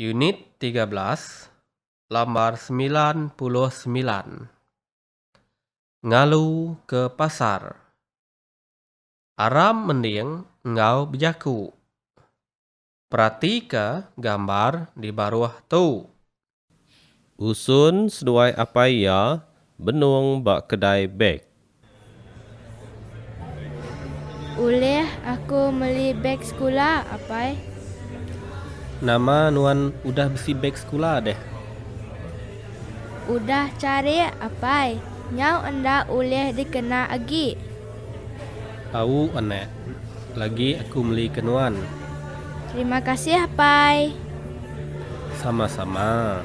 Unit tiga belas, lambar semilan puluh semilan. Ngalu ke pasar. Aram mending enggau bejaku. Peratika gambar di baruh tu. Usun seduai apai iya benung ba kedai beg. Ulih aku meli beg sekula, apai? Nama nuan udah bisi beg sekula deh? Udah cari, apai. Nyau enda ulih dikena agi. Au, anak. Lagi aku meli ke nuan. Terima kasih, apai. Sama-sama.